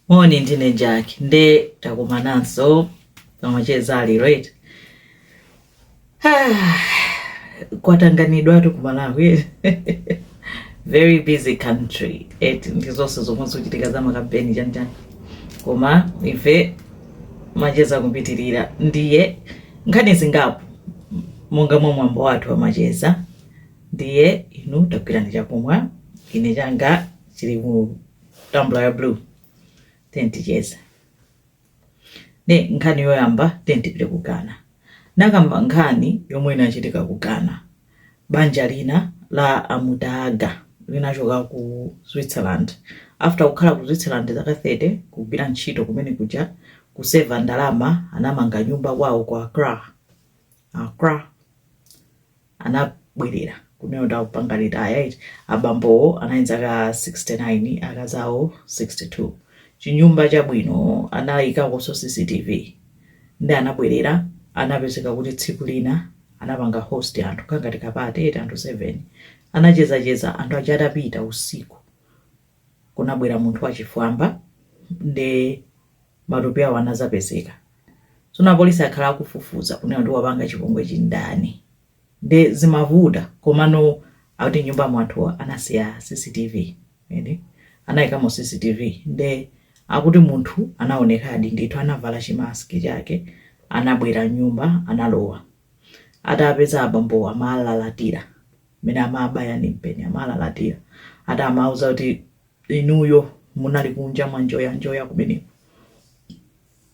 moni ndine jack nde takumananso pamacheza all right Ah, kwatanganidwatu ku malawi very busy country eti ndi zonse zomwe zochitika za makampeni chanichani koma ife macheza kupitirira ndiye nkhani zingapo monga mwa mwambo wathu wa macheza ndiye inu tagwirani chakumwa ine changa chili mu tambla ya blue tiyeni ticheze nde nkhani yoyamba tiyeni tipite ku ghana ndikamba nkhani yomwe inachitika ku ghana banja lina la amudaaga linachoka ku switzerland after kukhala ku switzerland zaka 30 kugwira ntchito kumene kuja kuseva ndalama anamanga nyumba kwawo ku accra accra anabwerera kumeneko ndi kupanga retire eti abambowo anali ndi zaka 69 akazi awo 62 chinyumba chabwino anayikakonso cctv ndi anabwerera anapezeka kuti tsiku lina anapanga host anthu kangati kapate eti anthu 7 anachezacheza anthu aja atapita usiku kunabwera munthu wachifwamba nde matupi awo anazapezeka tsono apolisi akhala akufufuza kunena kuti wapanga chipongwechi ndani nde zimavuta komano akuti m'nyumba mwawo anasiya cctv eti anayikamo cctv nde akuti munthu anaonekadi ndithu anavala chimaski chake anabwera m'nyumba analowa Atapeza abambowo amalalatira mmene amabaya ndi mpeni, amalalatira ati amauza kuti inuyo munali kunja mwanjoyanjoya kumeneko,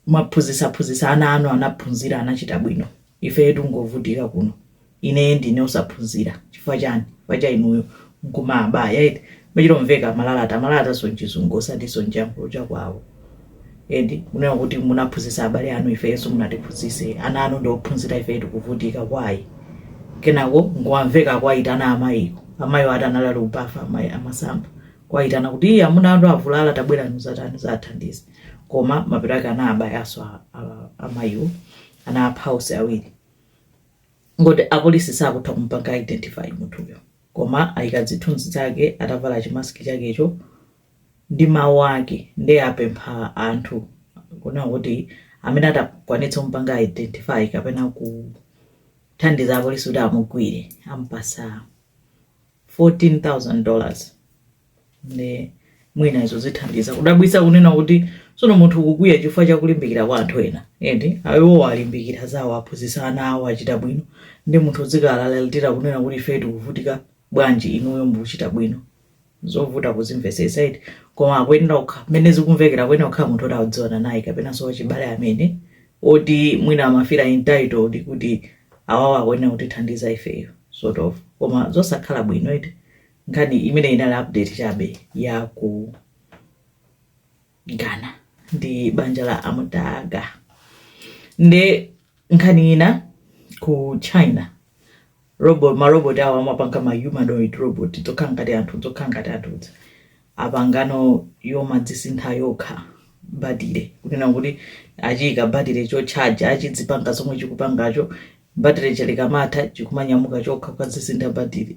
mwaphunzitsaphunzitsa ana anu, anaphunzira anachita bwino, ifeyo tikungovutika kuno, ine ndine osaphunzira chifukwa chani? Chifukwa cha inuyo, nkumabaya eti. Amachita kumveka amalalata amalalatanso mchizungu osatinso mchiyankhulo chakwawo eti kunena kuti munaphunzitsa abale anu ifenso musanatiphunzitse ana anu ndi ophunzira ife tikuvutika why kenako nkungomveka akuwayitana amayiwo amayiwo ati anali ali kubafa amayi amasamba kuwayitana kuti iye amuna anu avulala tabwerani mudzatani mudzathandize koma mapeto ake anabayanso a- a- amayiwo anapha onse awiri nde akuti apolisi sakutha kumpanga identify munthuyo Koma aika zithunzi zake atavala chimaski chakecho ndi mawu ake nde apempha anthu kunena kuti amene atakwanitse kumupanga identify kapena kuthandiza apolisi kuti amugwire amupasa 14000 dollars. nde mwina izo zithandiza kudabwitsa kunena kuti tsono munthu ukukwiya chifukwa chakulimbikira kwa anthu ena ende ayiwowo alimbikira zawo aphunzitsa ana awo achita bwino ndi munthu udzikalalatira kunena kuti ife tikuvutika bwanji inuyo mukuchita bwino zovuta kuzimvetsetsa eti koma akuyenera kukha mmene zikumvekera akuyenera kukhala munthu oti akudziwana naye kapenanso wachibale amene oti mwina amafira entitled kuti awawa akuyenera kutithandiza ifeyo sort of koma zosakhala bwino eti nkhani imene inali update chabe ya ku ghana ndi banja la amutaga nde nkhani ina ku china robot marobot awo amapanga ma humanoid robot zokhala ngati anthu zokhala ngati anthuzo apangano yomadzisintha yokha batire kunena kuti achiyika batire chotchaja achidzipanga zomwe chikupangacho batire chilikumatha chikumanyamuka chokha kukadzisintha batire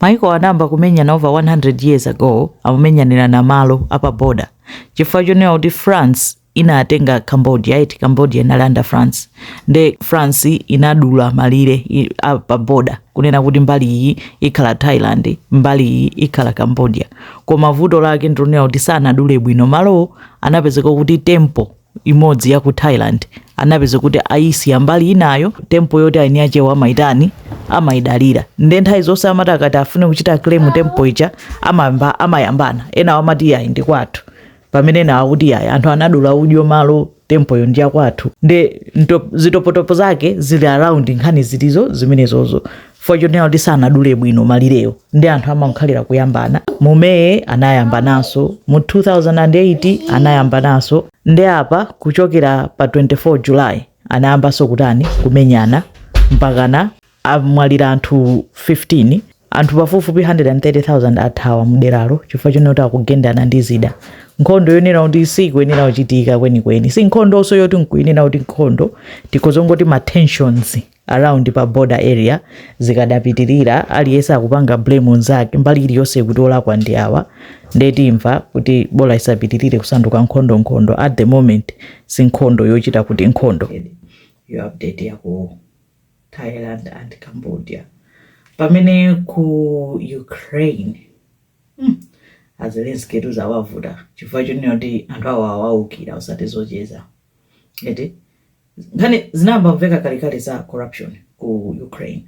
Maiko anayamba kumenyana over 100 years ago akumenyanirana malo apa border chifukwa chonena kuti France inatenga Cambodia eti Cambodia inali under France nde France inadula malire i- a- pa border kunena kuti mbali iyi ikhala Thailand mbali iyi ikhala Cambodia koma vuto lake ndilonena kuti sanadule bwino malowo anapezeka kuti tempo imodzi ya ku Thailand anapezeka kuti ayisiya mbali inayo tempo yoti eni akewo amaitani amaidalira nde nthawi zonse amati akati afune kuchita claim tempo ija amayamba amayambana enawo amati yayi ndi kwathu pamene enawo akuti yayi anthu anadula udyo malo tempoyo ndi yakwathu nde nto- zitopotopo zake zili around nkhani zilizo zimenezozo chifukwa chonena kuti sanadule bwino malirewo ndi anthu amakhalira kuyambana mu may anayambananso mu 2008 anayambananso ndi apa kuchokera pa 24 july anayambanso kutani kumenyana mpakana amwalira anthu 15 anthu pafupifupi 130,000 athawa mderalo chifukwa chonena kuti akugendana ndi zida nkhondo yonena kuti sikuyenera kuchitika kwenikweni si nkhondonso yoti nkunena kuti nkhondo tikhoza kungoti ma tensions around pa border area zikadapitirira aliyense akupanga blame nzake mbali iliyonse kuti olakwa ndi awa ndetu mwa kuti bola isapitirire kusanduka nkhondo nkhondo at the moment si nkhondo yochita kuti nkhondo yo update ya ku thailand and cambodia pamene ku ukraine hmm, azelenski tu zawavuta chifukwa chonena kuti anthu awo awaukira usati zocheza eti Nkhani zinayamba kumveka kalekale za corruption ku Ukraine.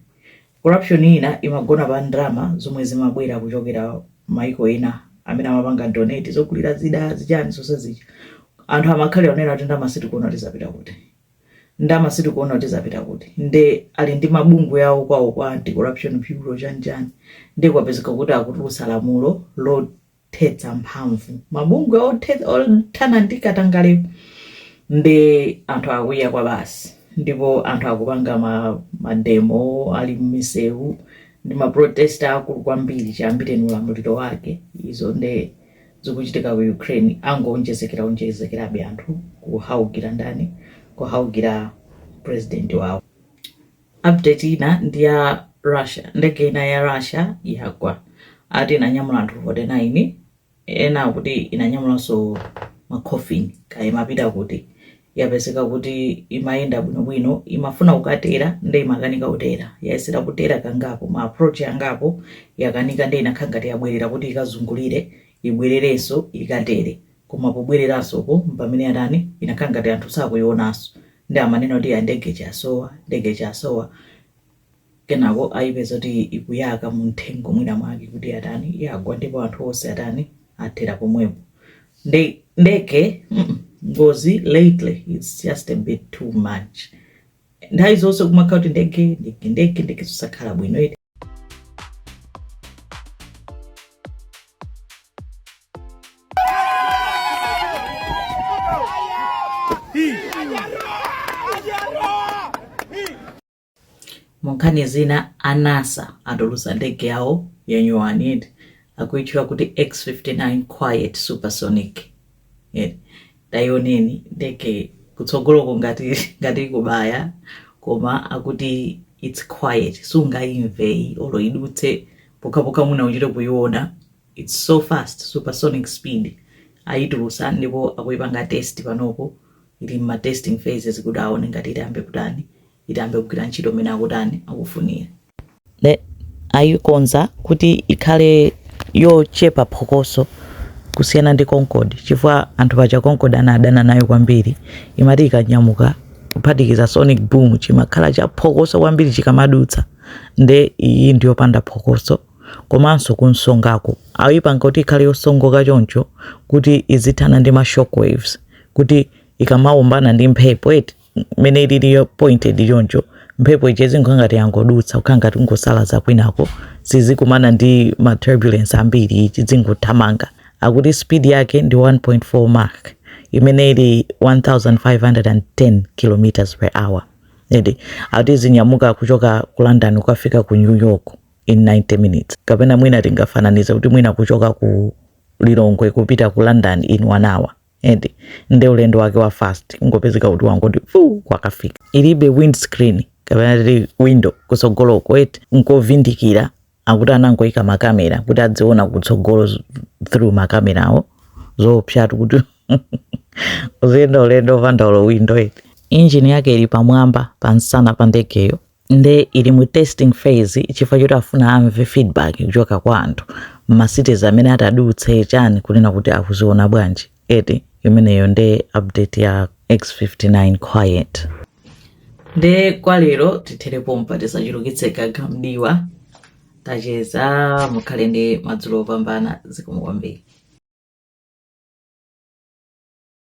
Corruption ina imagona pa ndalama zomwe zimabwera kuchokera maiko ena amene amapanga donate zogulira zida zichani zonse zija. Anthu amakhalira kunena kuti ndalama sitikuona kuti zapita kuti. Ndalama sitikuona kuti zapita kuti. Nde ali ndi mabungwe awo kwawo kwa anti corruption bureau chani chani. Nde kwapezeka kuti akutulutsa lamulo lot thetsa mphamvu mabungwe othana ndi katangale nde anthu akwiya kwabasi ndipo anthu akupanga ma, mademo ali mmisewu ndi maprotest akulu kwambiri chiyambireni ulamuliro wake izo nde zikuchitika ku ukraine angoonjezekera onjezekerabe anthu kuwaukira ndani kuwaukira president wawo Update ina ndi ya Russia, ndege ina ya Russia yagwa ati inanyamula anthu 49 ena akuti inanyamulanso ma coffin kaya imapita kuti. Yapezeka kuti imayenda bwinobwino imafuna kukatera nde imakanika kutera, yayesera kutera kangapo ma approach angapo yakanika nde inakhala ngati yabwerera kuti ikazungulire ibwererenso ikatere. Koma pobwereranso uko mpamene atani, inakhala ngati anthu sakuyionanso. Ndiye amanena kuti ya ndege ija yasowa, ndege ija yasowa. Kenako ayipeza kuti ikuyaka mu mthengo mwina mwake kuti atani, yagwa ndipo anthu onse atani, athera pomwepo. Nde, ndege, mm, ngozi lately it's just a bit too much. Nthawi zonse kumakhala kuti ndege, ndege, ndege, ndege zosakhala bwino eti. munkhani zina a NASA atulutsa ndege yawo yanyuwani akuitchula kuti x59 quiet supersonic Eh, tayioneni ndege kutsogoloko ngati ngati ikubaya koma akuti it's quiet sungayimve iyi olo idutse pokhapokha mwina uchite kuyiona it's so fast supersonic speed ayitulusa ndipo akuyipanga test panopo ili mma testing phases kuti aone ngati itayambe kutani itayambe kugwira ntchito mmene akutani akufunira ayikonza kuti ikhale yochepa phokoso kusiyana ndi concorde chifukwa anthu paja concorde anadana nayo kwambiri imati ikanyamuka kuphatikiza sonic boom chimakhala chaphokoso kwambiri chikamadutsa nde iyi ndiyopanda phokoso komanso kunsongako ayipanga kuti ikhale yosongoka choncho kuti izithana ndi ma shockwaves kuti ikamawombana ndi mphepo eti mmene ililiyo pointed choncho mphepo ija izingokhala ngati yangodutsa kukhala ngati kungosalaza kwinako sizikumana ndi ma turbulence ambiri ichi chizingothamanga akuti speed yake ndi 1.4 mach imene ili 1510 kilometers per hour eti akuti zinyamuka kuchoka ku london kukafika ku new york in 90 minutes kapena mwina tingafananize kuti mwina kuchoka ku lilongwe kupita ku london in one hour eti nde ulendo wake wa fast kungopezeka kuti wangoti fuu wakafika ilibe windscreen kapena titi window kutsogoloko eti nkovindikira akuti anangoika makamera kuti adziona kutsogolo z- through makamerawo zoopsatu kuti uziyenda ulendo opanda window eti injini yake ili pamwamba pansana pa ndegeyo nde ili mu testing phase chifukwa choti afuna amve feedback kuchoka kwa anthu mma cities amene atadutse chani kunena kuti akuziona bwanji eti imeneyo nde update ya x59 quiet nde kwa lero tithere pompa tisachulukitse gaga mdiwa tacheza mukhale ndi madzulo opambana zikomo kwambiri